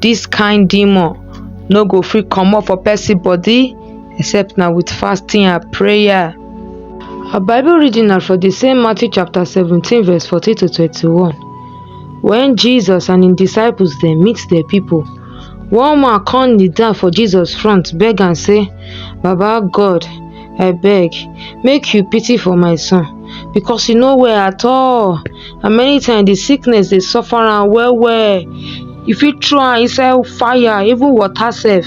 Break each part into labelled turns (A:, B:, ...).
A: Dis kind demon no go fit comot for person body except na with fasting and prayer. Our Bible reading na for the same Matthew chapter 17 verse 40 to 21. When Jesus and his disciples they meet the people, one man come kneel down for Jesus front beg and say, Baba God, I beg, make you pity for my son. because e no well at all and many times the sickness dey suffer am well well you fit throw am inside fire even water sef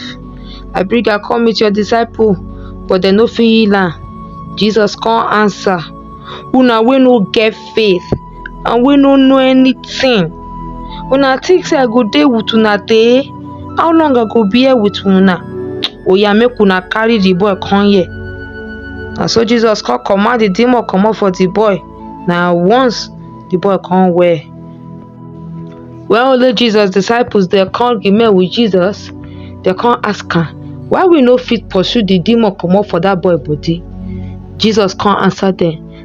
A: I bring am come meet your disciple but dem no fit heal am Jesus come answer una wey no get faith and wey no know anything una think say I go dey with una tey how long i go bear with una oya make una carry the boy come here na so jesus come command the demon comot for the boy na once the boy come well when only jesus disciples dey come remain with jesus dey come ask am why we no fit pursue the demon comot for that boy body jesus come answer them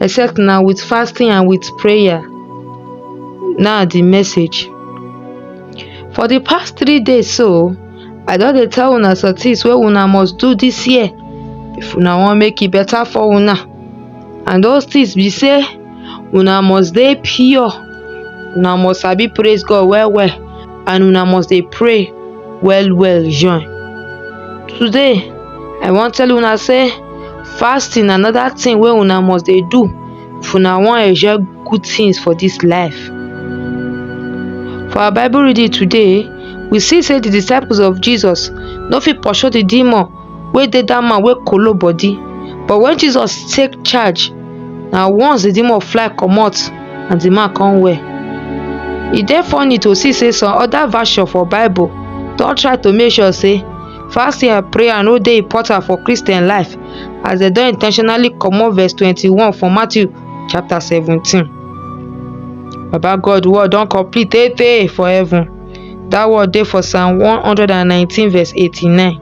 A: except na with fasting and with prayer na the message for the past three days so i don dey tell una some things wey una must do this year if una wan make e better for una and those things be say una must dey pure una must sabi praise god well well and una must dey pray well well join. Today I wan tell una sey fasting na another thing wey una must dey do if una wan enjoy good things for dis life. For our bible reading today we see sey de disciples of Jesus no fit pursue de demon wey dey dat man wey kolo body but wen Jesus take charge na once the demon fly comot and the man come well e dey funny to see say some other version for bible don try to make sure say fasting and prayer no dey important for Christian life as dem don intentionally comot verse twenty-one for Matthew chapter seventeen baba God word don complete tey tey for heaven dat word dey for psalm one hundred and nineteen verse eighty-nine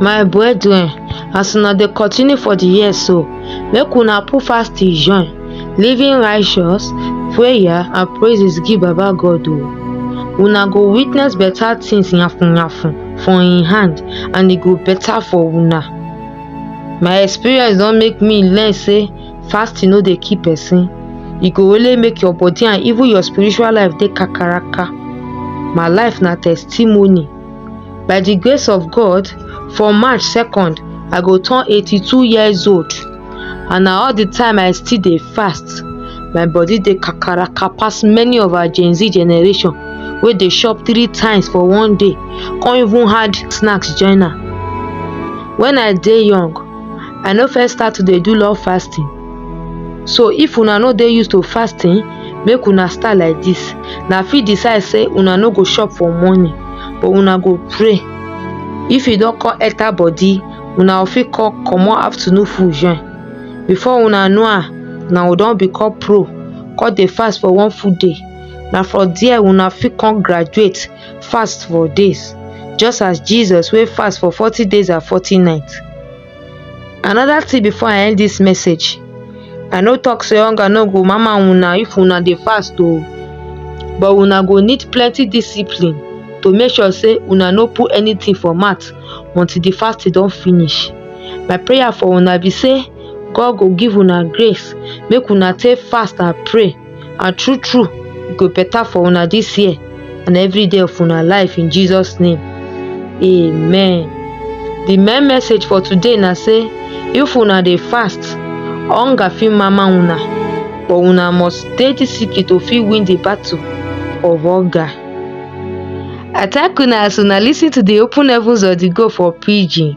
A: my brethren as una dey continue for the year so make una put fasting join living righteous prayer and praises give baba god o una go witness better things yafun yafun for im hand and e go better for una my experience don make me learn say fasting no dey kill person e go only make your body and even your spiritual life dey kakaraka my life na testimony by di grace of god for march second i go turn eighty two years old and na all di time i still dey fast my body dey kakaraka pass many of our gen z generation wey dey chop three times for one day come even add snacks join am when i dey young i no first start to dey do love fasting so if una no dey used to fasting make una start like this na fit decide say una no go chop for morning but una go pray if e don come enter body una fit come comot afternoon food join before una know am una go don become pro come dey fast for one full day na for there una fit come graduate fast for days just as jesus wey fast for forty days and forty nights Another thing before I end this message, I no talk say hunger no go mama una if una dey fast o, but una go need plenty discipline to make sure say una no put anything for mouth until the fasting don finish. My prayer for una be say God go give una grace make una take fast and pray. and true true e go better for una this year and every day of una life in Jesus name amen the main message for today na say if una dey fast hunger fit mama una but una must dey disciplined to fit win the battle of hunger I thank una as una listen to the open heavens of the go for pidgin